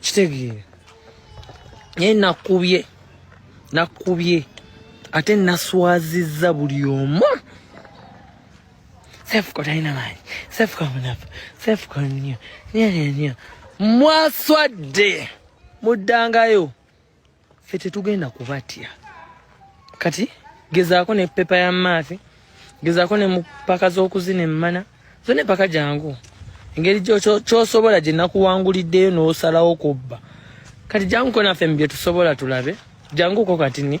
kitegeera naye nakubye nakubye ate naswazizza buli omu sefuka talina maanyi sefuka munafu sefuka nnyo nyo nyo mwaswadde muddangayo ffe tetugenda kubatya kati gezaako ne pepa ya maafi gezaako ne mupaka z'okuzina emmana zo ne paka jangu engeri kyosobola gye nakuwanguliddeyo n'osalawo kubba kati janguko naffe mu bye tusobola tulabe janguko kati ni